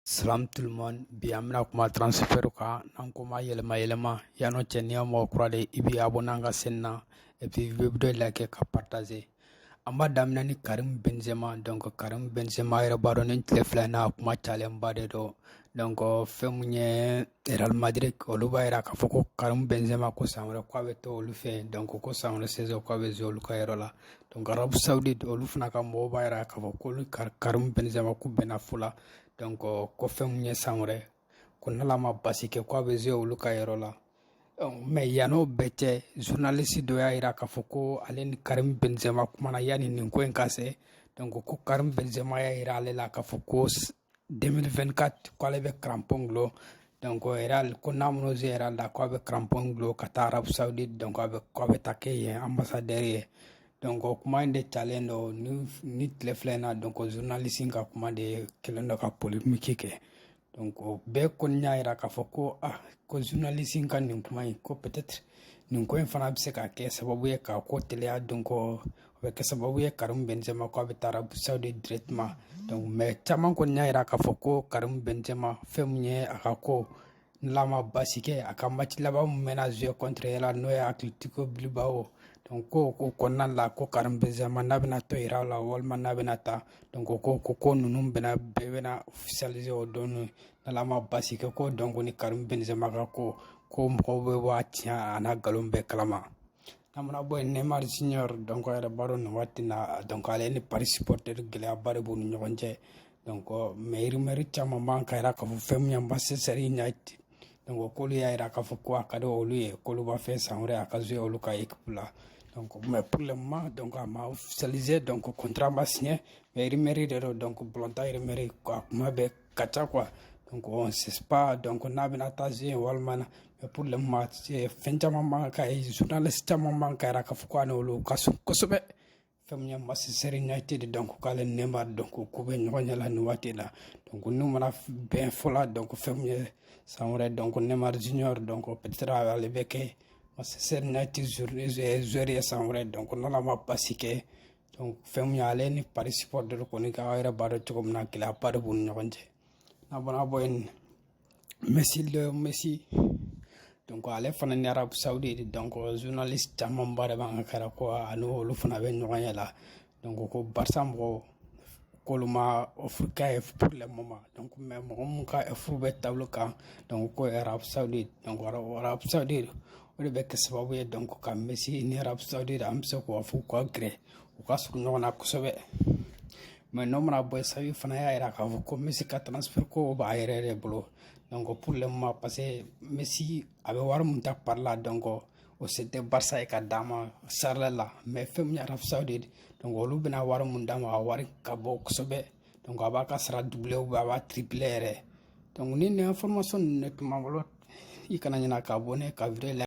Salam tout le monde bi an bɛna kuma transfert kan n'an k'o ma yɛlɛma yɛlɛma yann'o cɛ n'i y'a mɔgɔ kura de i b'i abonné an ka chaîne na et puis i bɛ vidéo like ka partager an b'a daminɛ ni Karim Benzema donc Karim Benzema yɛrɛ b'a dɔn nin tile fila in na a kuma cayalenba de don donc fɛn min ye Real Madrid olu b'a yira k'a fɔ ko Karim Benzema ko san wɛrɛ k'a bɛ to olu fɛ yen donc ko san wɛrɛ saison k'a bɛ jouer olu ka yɔrɔ la donc Arabie Saoudite olu fana ka mɔgɔw b'a yira k'a fɔ k'olu Karim Benzema k'u bɛnna fo la donc ko fɛn min ye san wɛrɛ ko n'Ala ma basi kɛ k'a bɛ jouer olu ka yɔrɔ la mais yann'o bɛɛ cɛ journaliste dɔ y'a yira k'a fɔ ko ale ni Karim Benzema kumana yanni nin ko in ka se donc ko Karim Benzema y'a yira ale la k'a fɔ ko 2024 ko ale bɛ crampon gulon donc Real ko n'a mana jouer Real la ko a bɛ crampon gulon ka taa Arabie Saoudite donc a bɛ ko a bɛ taa kɛ yen ambassadeur ye donc kuma in de talen don ni nin tile fila in na donc journaliste ka kuma de kɛlen don ka polémique kɛ donc o bɛɛ kɔni y'a yira k'a fɔ ko ah ko journaliste ka nin kuma in ko peut-être nin ko in fana bɛ se ka kɛ sababu ye ka ko teliya donc o bɛ kɛ sababu ye Karim Benzema ko a bɛ taa Arabie Saoudite directement donc mais caman kɔni y'a yira k'a fɔ ko Karim Benzema fɛn min ye a ka ko n'Ala ma basi kɛ a ka match laban min mɛna jouer contre yɛrɛ n'o ye Atletico Bilbao donc ko ko kɔnɔna la ko Karim Benzema n'a bɛna to Real la walima n'a bɛna taa donc ko ko ko ninnu bɛna bɛɛ bɛna officialiser o don n'Ala ma basi kɛ ko donc ni Karim Benzema ka ko ko mɔgɔw bɛ bɔ a tiɲɛ a n'a nkalon bɛɛ kalama n'an mana bɔ yen Neymar Junior donc yɛrɛ b'a dɔn nin waati na donc ale ni Paris supporter gɛlɛyaba de b'u ni ɲɔgɔn cɛ donc mais rumeur caman b'an ka yira k'a fɔ fɛn min ye Manchester United donc k'olu y'a yira k'a fɔ ko a ka di olu ye k'olu b'a fɛ san wɛrɛ a ka jouer olu ka équipe la donc mais pour le moment donc a ma officialisé donc contrat ma signé mais rumeur de don donc balɔntan rumeur a kuma bɛɛ ka ca quoi donc on sait pas donc n'a bɛna taa se yen walima na mais pour le moment fɛn caman b'an ka ye journaliste caman b'an ka yira k'a fɔ ko a n'olu ka surun kosɛbɛ fɛn min ye Manchester United donc k'ale Neymar donc ko bɛ ɲɔgɔn ɲɛ la nin waati la donc n'u mana bɛn fo la donc fɛn min ye san wɛrɛ donc Neymar Junior donc peut-être ale bɛ kɛ Manchester United joueur ye san wɛrɛ donc n'Ala ma basi kɛ fɛn min y'ale ni Paris supporter kɔni ka aw yɛrɛ b'a dɔn cogo min na gɛlɛyaba de b'u ni ɲɔgɔn cɛ n'an mana bɔ yen Messi donc Messi donc ale fana ni Arabie Saoudite donc journaliste camanba de b'an ka yira ko a ni olu fana bɛ ɲɔgɔn ɲɛ la donc ko Barça mɔgɔw k'olu ma offre k'a ye pour le moment donc mais mɔgɔ min ka offre bɛ table kan donc ko Arabie Saoudite donc Arabie Saoudite o de bɛ kɛ sababu ye donc ka messi ni arabie saoudite an bɛ se k'o fɔ k'o gɛrɛ u ka surun ɲɔgɔn na kosɛbɛ mais n'o mana bɔ xavi fana y'a jira k'a fɔ ko messi ka transfert ko b'a yɛrɛ de bolo donc pour le moment parce que messi a bɛ wari mun ta paris la donc o se tɛ barça ye ka d'a ma sara la mais fɛn min arabie saoudite donc olu bɛna wari mun d'a ma a wari ka bon kosɛbɛ donc a b'a ka sara doubler ou a b'a tripler yɛrɛ donc nin information ninnu de tun b'an bolo i kana ɲinɛ k'abonner ka video la